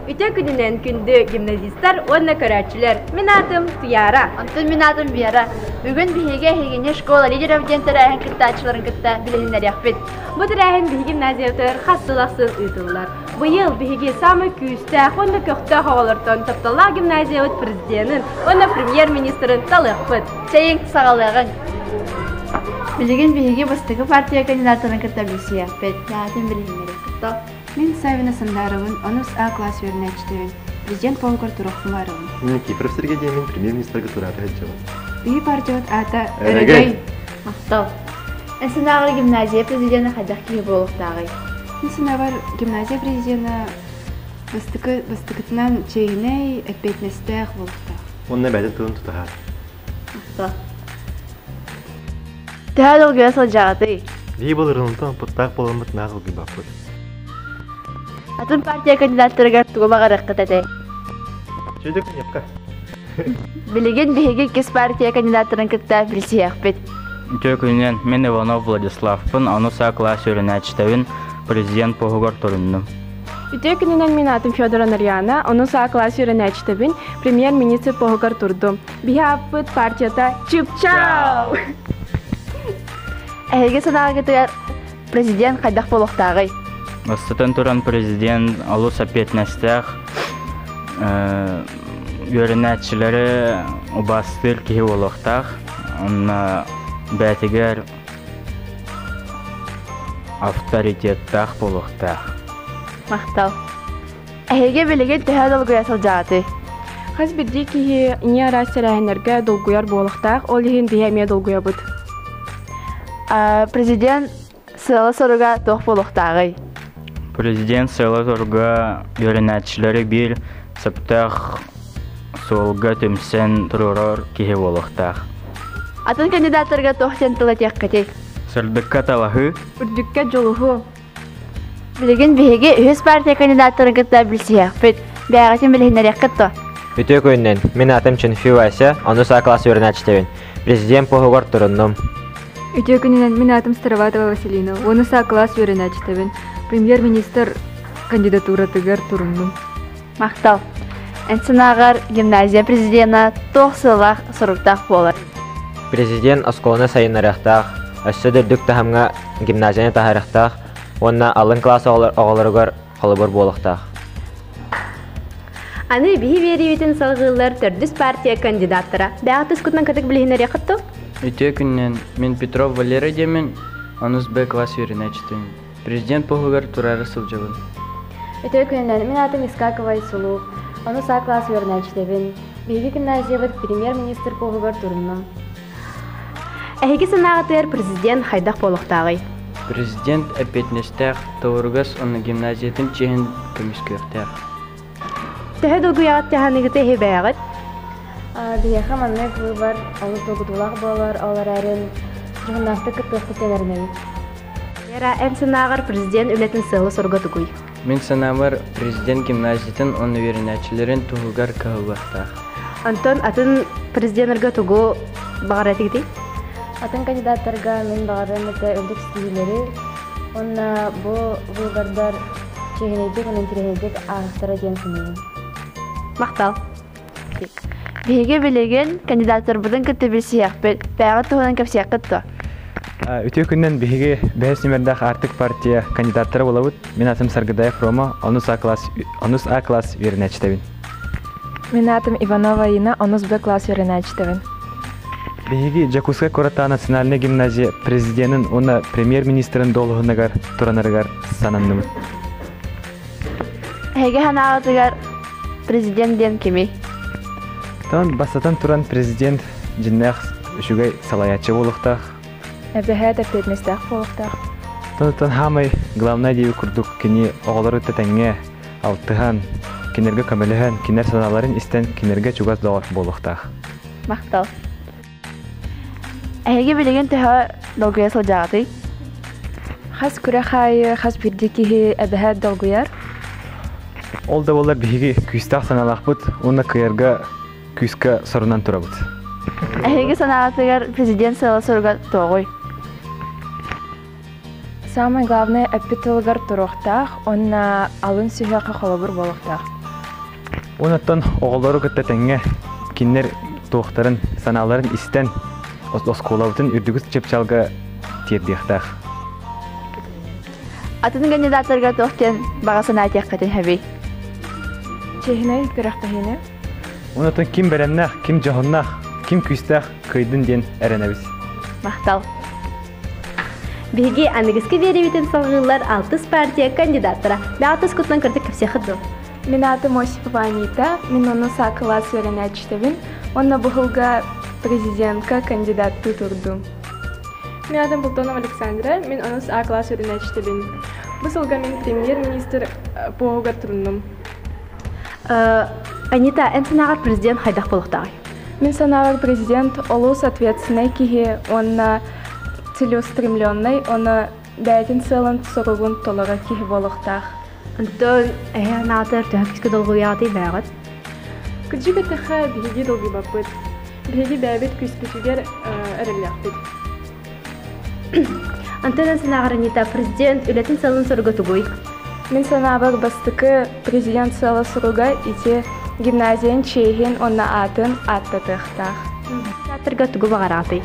Ити күнүнэн күндү гимназистар уонна көрөөччүлэр. Мин аатым Туяра. Онтон мин аатым Вера. Бүгүн биһиги эһигини школа лидеров диэн тэрээһин кыттааччыларын кытта билиһиннэриэхпит. Бу тэрээһин биһиги гимназиябытыгар хас сыл ахсын ыытыллар. Быйыл биһиги самый күүстээх уонна көхтөөх оҕолортон Тапталлаах гимназиябыт президенин уонна премьер-министрин талыахпыт. Чэйиҥ саҕалыаҕыҥ. Билигин биһиги бастакы партия кандидаттарын кытта билсиэхпит. Наатын билиһиннэриэхпит. Топ. Мин Савина Сандаровын, онус А класс үөрэнээччитэрин, президент пуоҥугар туруохпун баарыбын. Мин Кипров Сергей диэмин премьер-министргэ тураата сылдьабын. Ии бардьот аата Өрөгөй. Махтал. Эсенааҕар гимназия президенэ хайдах киһи буолуохтааҕый? Эсенааҕар гимназия президенэ бастакы бастакытынан чиэһинэй, эппиэтинэстээх буолуохтаах. Онно бэйэтин тылын тутуһар. Төһө долгуйа сылдьаҕытый? Дии былырын онтон оппуттаах буоламмыт наах ылгыйбаппыт. Атын партия кандидаттарыгар тугу баҕарыаххыт этэй? Сүдүк айапка. Билигин биһиги иккис партия кандидаттарын кытта билсиһиэхпит. Үтүө күнүнэн, мин Иванов Владиславпын, аны саа класс үөрэнээччитэбин, президент поһугар туруннум. Үтүө күнүнэн мин аатым Федора Нарьяна, ону саа класс үөрэнээччитэбин, премьер-министр поһугар турдум. Биһаппыт партията чыпчаал! Эһиги санааҕытыгар президент хайдах буолуохтааҕый? Бастатан туран президент олус эппиэтинэстээх, үөрэнээччилэри убаастыыр киһи буолуохтаах. Онно бээтигэр авторитеттаах буолуохтаах. Махтал. Эһиги билигин төһө долгуйа сылдьаҕытый? Хас биирдии киһи ийэ араас тэрээһиннэргэ долгуйар буолуохтаах, ол иһин биһи эмиэ долгуйабыт. Президент сыала-соруга туох буолуохтааҕый? Президент сыала-соруга үөрэнээччилэри биир сөптөөх суолга түмсэн туруорар киһи буолуохтаах. Атын кандидаттарга туох диэн тыл этиэххитий? Сырдыкка талаһыы. Үрдүккэ дьулуһуу. Билигин биһиги үһүс партия кандидаттарын кытта билсиһиэхпит. Бэйэҕитин билиһиннэриэххит дуо? Үтүө күнүнэн. Мин аатым Чэнфи Вася, ону саа класс үөрэнээччитэбин. Президент пуһугар туруннум. Үтүө күнүнэн. Мин аатым Староватова Василина, уону саа класс үөрэнээччитэбин. Премьер-министр кандидатуратыгар туруннум. Махтал! Эн санааҕар гимназия президена туох сыалаах соруктаах буолар? Президент оскуоланы сайыннарыахтаах, өссө да үрдүк таһымҥа гимназияны таһаарыахтаах уонна алын кылаас оҕолоругар холобур буолуохтаах. Аны биһи биэриибитин салгыыллар төрдүс партия кандидаттара бэҕэ тускутунан кытык билиһиннэриэххит ту? Үтүө күннэн, мин Петров Валера диэмин, онус Б класс үөрэнээччитин. Президент поһугар тураары сылдьабын. Өтөр күнүнэн мин аатым Искакова Исунуу. Ону саа кылаас үөрэнээччитэбин. Биһиги гимназиябыт премьер-министр поһугар турунна. Эһиги санааҕытыгар президент хайдах буолуохтааҕый? Президент эппиэтинэстээх, тоҕуругас уонна гимназиятын чиэһин көмүскүөхтээх. Төһө долгуйаҕыт тыһааныгыты иһибээҕит? Биһиэхэ маннык быыбар олус долгутуулаах буолар, ол эрээри дьоһуннаахтык кыттыахпыт диэн эрэнэбит. Вера, эн санааҕар президент үлэтин сыала-соруга тугуй? Мин санаабар, президент гимназиятын уонна үөрэнээччилэрин туһугар кыһаллыахтаах. Онтон атын президеннэргэ тугу баҕарар этигитий? Атын кандидаттарга мин баҕарыам этэ үрдүк ситиһиилэри уонна бу быыбардар Чиэһинэйдик уонна интэриэһирдик ааҕыстара диэн саныыбын. Махтал. Биһиги билигин кандидаттарбытын кытта билсиһиэхпит, бэйэҕит туһунан кэпсиэххит дуо? Үтүө күнүнэн биһиги бэһис нүмердээх Аартык партия кандидаттара булабыт. Мин атым Саргыдаев Рома, онус А класс, онус А класс үөрэнээччитэбин. Мин аатым Иванова Инна, онус Б класс үөрэнээччитэбин. Биһиги Дьокуускай куораттаах национальнай гимназия президенин уонна премьер-министрин дуолуһунагар туранарыгар сананныбыт. Эһиги санааҕытыгар президент диэн кимий? Тон бастатан туран президент дьиннээх үчүгэй салаяччы буолуохтаах. Эбэһээт эппиэтинэстээх буолуохтаах. Тонтан хаамай главное диэби курдук кини оҕолору тэтэҥҥэ алтыһан, кинилэргэ көмөлөһөн, кинилэр санааларын истэн, кинилэргэ чугас доҕор буолуохтаах. Махтал. Эһиги билигин төһө долгуйа сылдьаҕытый? Хас күрэх аайы, хас биирдии киһи эбэһэ долгуйар? Ол да буоллар биһиги күүстээх санаалаахпыт уонна кыйарга күүскэ сорунан турабыт. Эһиги санааҕытыгар президент сыала-соруга тоҕуй? Саамай главнай эппит тылыгар туруохтаах уонна алын сүһүөххэ холобур буолуохтаах. Онуттан оҕолору кытта тэҥҥэ кинилэр туохтарын санааларын истэн оскуолабытын үрдүкү чыпчалга тиэрдиэхтээх. Атын кандидаттарга туох диэн баҕа санаатыаххытын сөбүй? Чиэһинэй күрэхтэһиини. Онуттан ким бэлэмнээх, ким дьоһуннаах, ким күүстээх кыайдын диэн эрэнэбит. Махтал. Биһиги аныгыскы биэрэбитин салҕыыллар алтыс партия кандидаттара бэҕэтис кутунан кырдык кэпсиэххит дуу? Мин аатым Осипова Анита, мен онно саа кылаас үөрэнээччитэбин. Онно быһылга президентка кандидаттыы турдум. Мен аатым Бултонова Александра, мен онно саа кылаас үөрэнээччитэбин. Бу сылга мен премьер-министр пуоһугар туруннум. Анита, эн санааҕар президент хайдах буолуохтааҕый? Мин санаабар, президент олус ответственнай киһи уонна целеустремленнай, ону бэйэтин сыалын-соругун толорор киһи буолуохтаах. Онтон эһээн аатыгар төһөктүкү долгуйаатый бээҕит? Кыдьык этэхэ биһиги долгуйбаппыт. Биһиги бэйэбит күүспүтүгэр эрэллээхпит. Антона Санааҕарынита, президент үлэтин сылын соруга тугуй? Мин санаабар бастакы президент сыала суруга ити гимназиянын чиэһин уонна аатын ааттатыахтаах. Театрга тугу баҕараҕытый?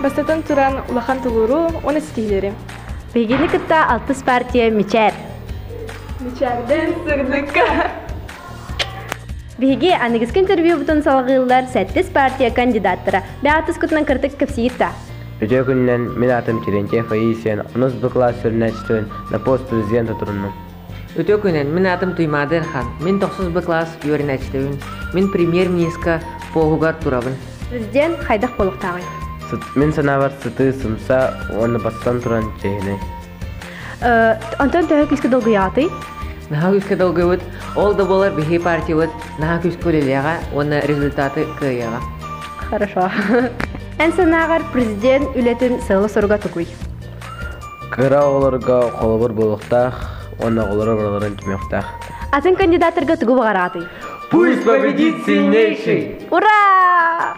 Бастатан туран, улахан тулууру уонна стилери. Биһигини кытта алтыс партия мичээр. Мичээрдэн сырдыкка. Биһиги аныгыскы интервьюбутун салҕыыллар 7 партия кандидаттара бэҕатыскутунан кыртык кэпсиирта. Үтүө күнүнэн мин аатым Терентьев Аисия, онус бу класс сүрүннээччитин на пост президента туруннум. Үтүө күнүн, мин аатым Туймаада Эрхан, мин тохсус бы класс үөрэнээччитэбин, мин премьер-министрка пооһугар турабын. Президент хайдах болуктааҕый? Мин санаабар сытыы сымса уонна бастан туран чиэһинэй. Онтон төһө күүскэ долгуйаҕытый? Наһаа күүскэ долгуйбут. Ол да буолар биһи партиябыт наһаа күүскэ үлэлиэҕэ уонна результаты кыайыаҕа. Хорошо. Эн санааҕар президент үлэтин сыала-соруга тугуй? Кыра оҕолорго холобур буолуохтаах уонна оҕолору барыларын түмүөхтээх. Атын кандидаттарга тугу баҕараатый? Пусть победит сильнейший! Ура!